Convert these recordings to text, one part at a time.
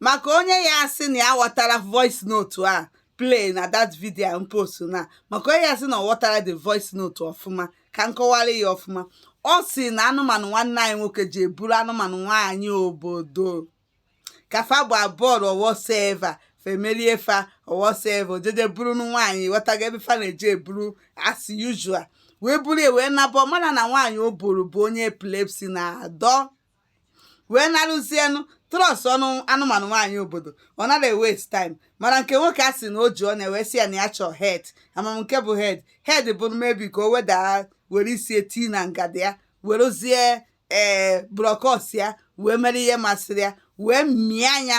maka onye ya asị na ya ghọtara voice note a play na that video m post na maka onye ya asị na ọ ghọtara the voice note ọfụma ka m kọwara ya ọfụma ọ sị na anụmanụ nwanne anyị nwoke jee buru anụmanụ nwaanyị obodo ka fa bụ abụọ howsoever fe merie fa howsoever o jeje buru nwaanyị ghọtago ebe fa na-eje eburu as usual wee buru ya wee naba mana na nwaanyị o buru bụ onye epilepsy na-adọ wee naruzienụ trust nụ anụmanụ nwaanyị obodo ọ nara waste time mana nke nwoke a sị na o ji ọnya wee sị ya na ya chọọ head amam nke bụ head head bụ maybe ka o wedaa were isi eti na ngada ya werezie ee brọkọs ya wee mere ihe masịrị ya wee mịa ya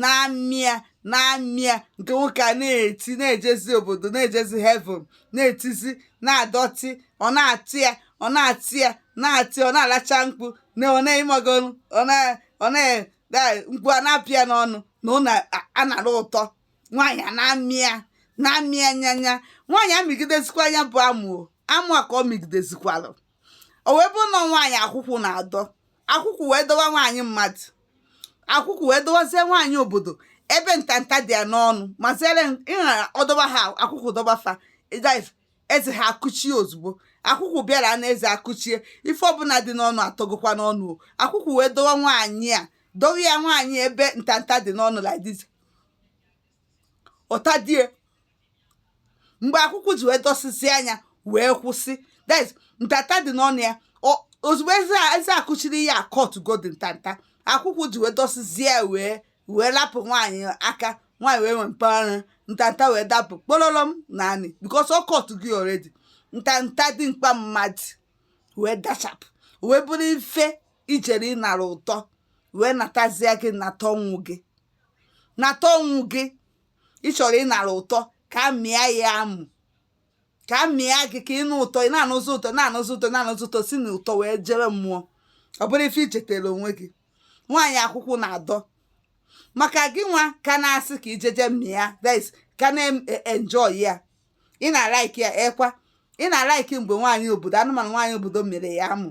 na-amị ya na-amị ya nke nwoke a na-eti na-ejezi obodo na-ejezi heaven na-etizi na-adọtị ọ na-atị ya ọ na-atị ya na-atị ọ na-alacha mkpu na ọ na-emegolu ọ na ọ na-ada mkpu a na-apụ ya n'ọnụ na ọ na-anara ụtọ nwaanyị a na-amị ya na-amị ya nyanya nwaanyị amịgidezikwa ya bụ amụ o. amụ a ka ọ mịgidezikwalụ o wee bụrụ na nwaanyị akwụkwụ na-adọ akwụkwụ wee dọwa nwaanyị mmadụ akwụkwụ wee dọwazie nwaanyị obodo ebe ntanta dị ya n'ọnụ ma zere ịghara ọ dọba ha akwụkwụ dọba fa ịdaiv eze ha akụchie ozugbo akwụkwụ bịara na eze akụchie ife ọbụla dị n'ọnụ atọgokwa n'ọnụ o akwụkwụ wee dọwa nwaanyị a dọwa ya nwaanyị ebe ntanta dị n'ọnụ like this ọta die mgbe akwụkwụ ji wee dọsịzie ya wee kwụsị that is ntanta dị n'ọnụ ya Ọ- ozugbo eze a- eze akụchiri ya a-cutgodi ntanta akwụkwụ ji wee dọsịzie ya wee wee lapụ nwaanyị aka nwaanyị wee nwee mpaghara ntanta wee dapụ kpololom n'anị because ọ cutgo already ntanta dimkpa mmadụ wee dachapụ wee bụrụ ife i jere ịnara ụtọ wee natazia gị nata ọnwụ gị nata ọnwụ gị ị chọrọ ịnara ụtọ ka a mịa ya amụ ka a mịa gị ka ị nụ ụtọ ị na-anụzi ụtọ na-anụzi ụtọ na-anụzi ụtọ si na ụtọ wee jere mmụọ ọ bụrụ ife i jetara onwe gị nwaanyị akwụkwụ na-adọ maka gị nwa ka na-asị ka i jeje mịa this ka na-enjoy ya ị na-alaiki ya ekwa ị na-alaiki mgbe nwaanyị obodo anụmanụ nwaanyị obodo mịrị ya amụ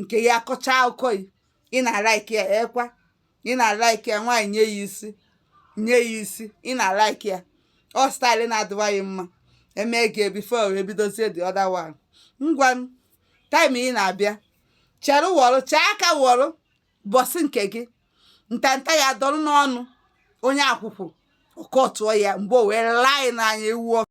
nke ya akọcha akụkọ ya ị na-alaiki ya ekwa ị na-alaiki ya nwaanyị nye ya isi nye ya isi ị na-alaiki ya ọ style na-adịwa ya mma e mee gị before wee bidozie the other one ngwa m time ị na-abịa chere wọrụ chee aka wọrụ ụbọsị nke gị ntanta ya dọrọ n'ọnụ onye akwụkwụ ọ cutụọ ya mgbe o wee laa anyị n'anya ewu ọkụ